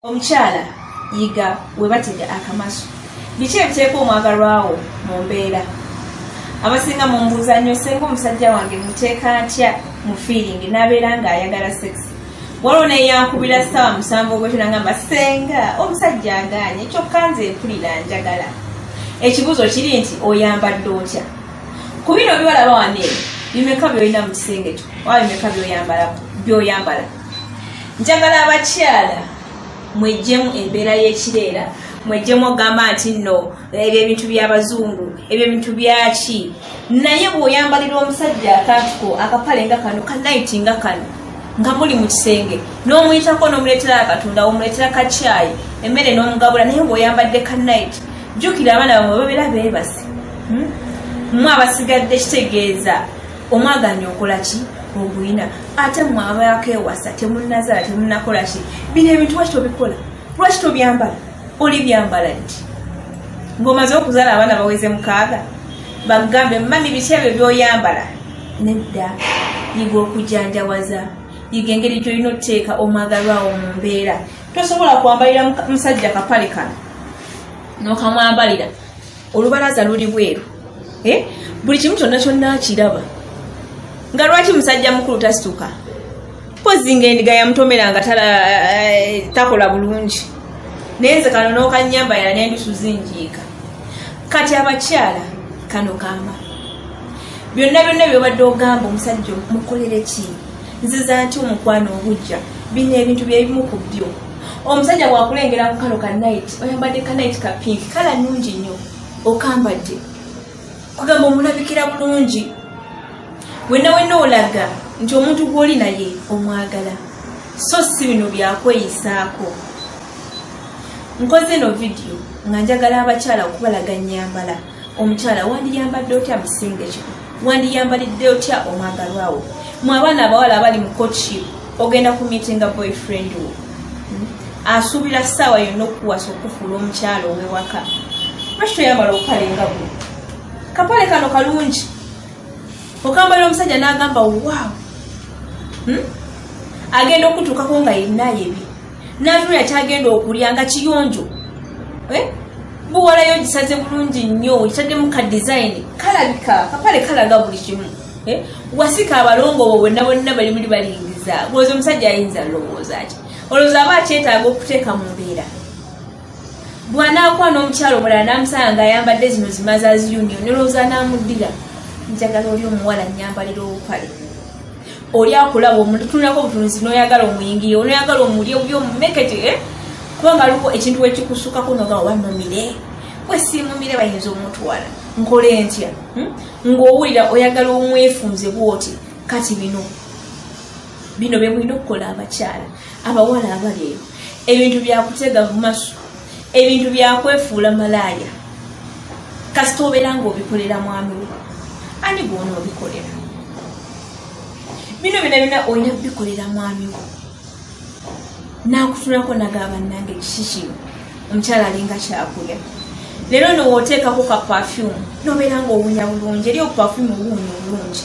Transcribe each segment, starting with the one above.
omukyala yiga webatega akamaso biki ebiteeka omwagalwawo mu mbeera abasinga mumbuuza nnyo senga omusajja wange muteeka ntya mu fiiringi n'abeera ng'ayagala sekisi waliwo neyankubira saawa musanvu ogwetula ngamba senga omusajja aganye kyokka nze mpulira njagala ekibuuzo kiri nti oyambadde otya ku bino bibalaba wane bimeka byolina mu kisenge kyo oba bimeka byoyambala njagala abakyala mwejjemu embeera y'ekireera mwejjemu ogamba nti nno ebyo ebintu by'abazungu ebyo ebintu byaki naye bw'oyambalira omusajja akatuko akapale nga kano kanaiti nga kano nga muli mu kisenge n'omuyitako n'omuleetera akatunda omuleetera kakyayi emmere n'omugabula naye bw'oyambadde kanaiti jjukira abaana bamwe babeera beebase hmm? mwe abasigadde kitegeeza omwaganya okola ki oguyina ate mwe abaako ewasa temunazala temunakola ki bino ebintu lwaki tobikola lwaki tobyambala oli byambala nti ngaomaze okuzala abaana baweze mukaaga bagambe mami biki ebyo byoyambala nedda yiga okujanjawaza yiga engeri gyolina oteeka omwagalwawo mu mbeera tosobola kwambalira musajja kapale kano nokamwambalira olubalaza luli bweru eh? buli kimu kyonna kyonna akiraba nga lwaki musajja mukulu tasituka pozi nga endiga yamutomera nga eh, takola bulungi naye nze kano nokanyamba yala nendusu zinjiika kati abakyala kano kamba byonna byonna byobadde ogamba omusajja mukolere kii nziza nti omukwano ogujja bino ebintu byebimu ku byo omusajja bwakulengera ku kano ka nit oyambadde ka nit ka pink kala nungi nnyo okambadde kugamba omulabikira bulungi wenna wenna olaga nti omuntu gw'oli naye omwagala so si bino byakweyisaako nkoze eno vidiyo nga njagala abakyala okubalaga nyambala omukyala wandiyambadde otya musinge kyo wandiyambalidde otya omwagalwawo mu abaana abawala abali mu kotship ogenda ku mitinga boyfriend wo hmm? asuubira ssaawa yonna okukuwasa okufuula omukyala owewaka lwaki toyambala obupale nga bu kapale kano kalungi okambalira omusajja n'agamba waawo hmm? agenda okutuukako nga yenna yebi natunula kyagenda okulya nga kiyonjo eh? buwalayo gisaze bulungi nnyo kitaddemu ka design kalabika kapale kalaga buli kimu eh? wasika abalongo bo bonna bonna bali muli balingiza lwooza omusajja ayinza lowooza ki olowooza aba akyetaaga okuteeka mu mbeera bwanaakwana omukyalo omulala namusanga nga ayambadde zino zimazazi union nolowooza namuddira njagala oli omuwala nyambalira obupale oli akulaba omutunulako obutunuzi noyagala omuyingiye onoyagala omulye obubi omumekete eh? kubanga aliko ekintu wekikusukako noga oba mumire wesimumire bayinza omutwala nkole ntya hmm? ngaowulira oyagala omwefunze bwoti kati bino bino bemulina okukola abakyala abawala abaleero ebintu byakutega mumaso ebintu byakwefuula malaaya kasita obeera nga obikolera mwami wo ani gwona obikolera bino bina bina olina kubikolera mwami wo nakutunako nagamba nange kikikino omukyala alinga kyakulya leero nowooteekako ka pafyumu nobeera nga owunya bulungi eri obupafyumu obuwunya obulungi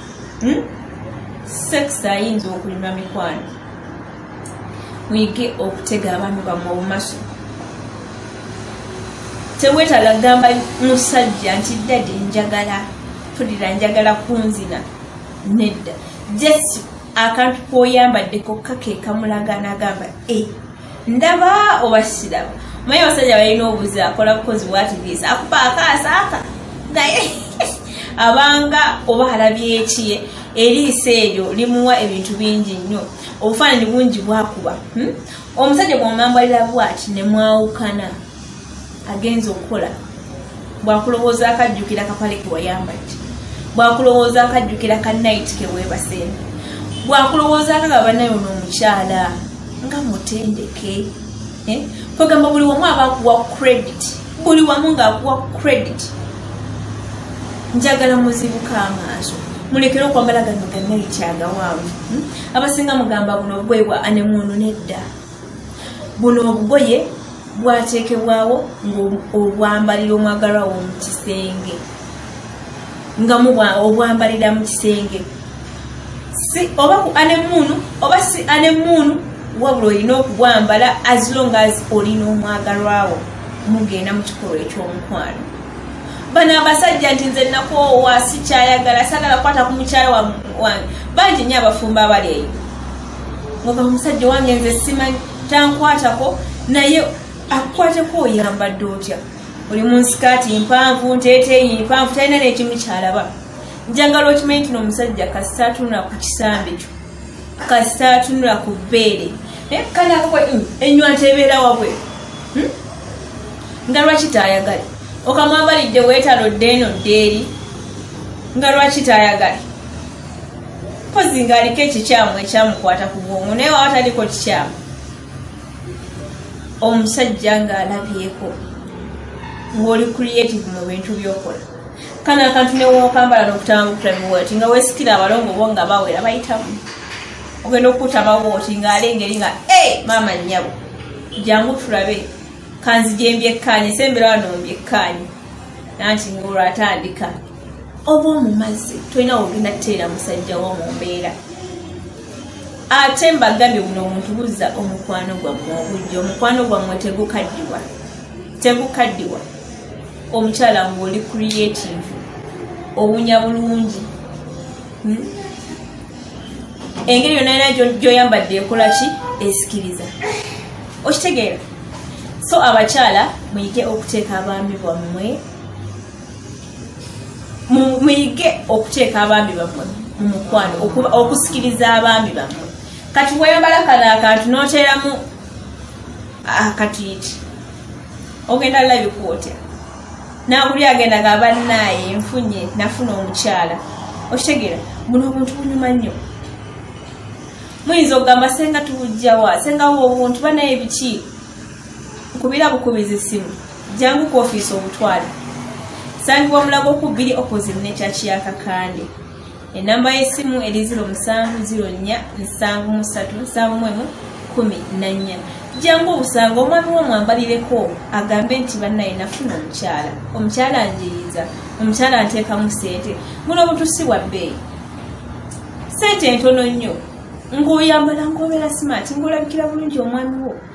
hmm? sex ayinza okulima mikwano muyige okutega abantu bamwe obumaso tewetala gamba musajja nti dadi njagala tulira njagala kunzina nedda jesi akantu koyambaddeko kakekamulagana gamba e eh. ndaba obasiramu maye abasajja balina obuzi akola bukozi bwatibisa akuba akaasa aka naye abanga oba alabyekiye eriiso eryo limuwa ebintu bingi nnyo obufaananyi bungi bwakuba hmm? omusajja gwamwambalira bwati nemwawukana agenza okukola bwakulowooza akajjukira kapale kewayambaki bwakulowooza akajjukira ka nit kewebasene bwakulowooza akaga banayo nomukyala nga mutendeke eh? kwegamba buli wamu aba akuwa credit buli wamu ngaakuwa credit njagala muzibuka amaaso mulekere okwambala gano ganaiti agawanvu hmm? abasinga mugamba buno bwebwa anemuunu nedda buno obugoye bwateekebwawo ng'obwambalira omwagalwa wo mu kisenge nga mubwa obwambalira mu kisenge si oba ku anemuunu oba si anemuunu wabula olina okubwambala as long as olina omwagalwawo mugenda mu kikolwa eky'omukwano bano abasajja nti nze nakoowa sikyayagala sagala kukwata ku mukyala wange bangi nyo abafumba abali eyo oba omusajja wange nze simanyi tankwatako naye akukwateko oyambadde otya oli mu nsikaati mpanvu nteeteeyi mpanvu talina nekimu kyalaba njagala okimanyi tino omusajja kasita atunula ku kisambi kyo kasita atunula ku bbeere eh, kanakwe mm, enywa ntebeera wabwe hmm? nga lwaki taayagale okamwambalidde weetalo ddeeno ddeeri nga lwaki taayagale mpozi ng'aliko ekikyamu ekyamukwata ku bwongo naye waba taliko kikyamu omusajja ng'alabyeko ng'oli creative mu bintu by'okola kana akantu newokambala nokutambukulabiwoti nga wesikira abalongo bo nga bawera bayitamu ogenda okukuta bawoti ngaali engeri nga e maama nyabo jangu tulabe kanzijembyekkaanye sembera wano mbyekkaanye nanti ngaolwatandika oba omumazzi tolina wogenda kuteera musajja wo mu mbeera ate mbagambye buno omuntu buzza omukwano gwammwe obujja omukwano gwammwe tegukaddiwa tegukaddiwa omukyala nga oli creative owunya bulungi hmm? engeri yonna yona gyoyambadde ekola ki esikiriza okitegeera so abakyala muyige okuteeka abaami bwammwe muyige okuteeka abaami bamwe mu mukwano okusikiriza abaami bamwe kati weyambala kano akantu noteeramu akatiiti ah, ogenda labika otya naguli agenda nga banaaye nfunye nafuna omukyala okitegera muno omuntu bunyuma nnyo muyinza okugamba senga tubujjawa senga wo obuntu banaye biki nkubira bukubiza essimu jangu ku ofiisi obutwale sangibwa mulago ku bbiri opposite nekyaki ya kakande enamba y'essimu eri 07043731 jangu obusanga omwami wo mwambalireko agambe nti bannaye nafuna omukyala omukyala njiriza omukyala nteekamu sente muno obutusi bwa bbeeyi sente ntono nnyo ng'oyambala ng'obeera simaati ng'olabikira bulungi omwami wo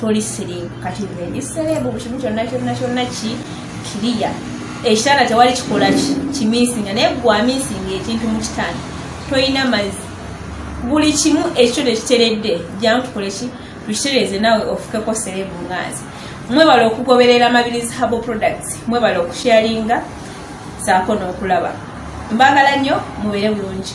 toli sirimu kati ndi serebu bukimu kyonna kyonna kyonna ki kiriya ekitanda tewali kikola ki kiminsinga naye gwaminsinga ekintu mu kitanda tolina mazzi buli kimu ekyo tekiteredde jamu tukoleki tukitereeze naawe ofukeko serebu nganzi mwebala okugoberera mabirizi habo products mwebala okusharinga saako n'okulaba mbagala nnyo mubeere bulungi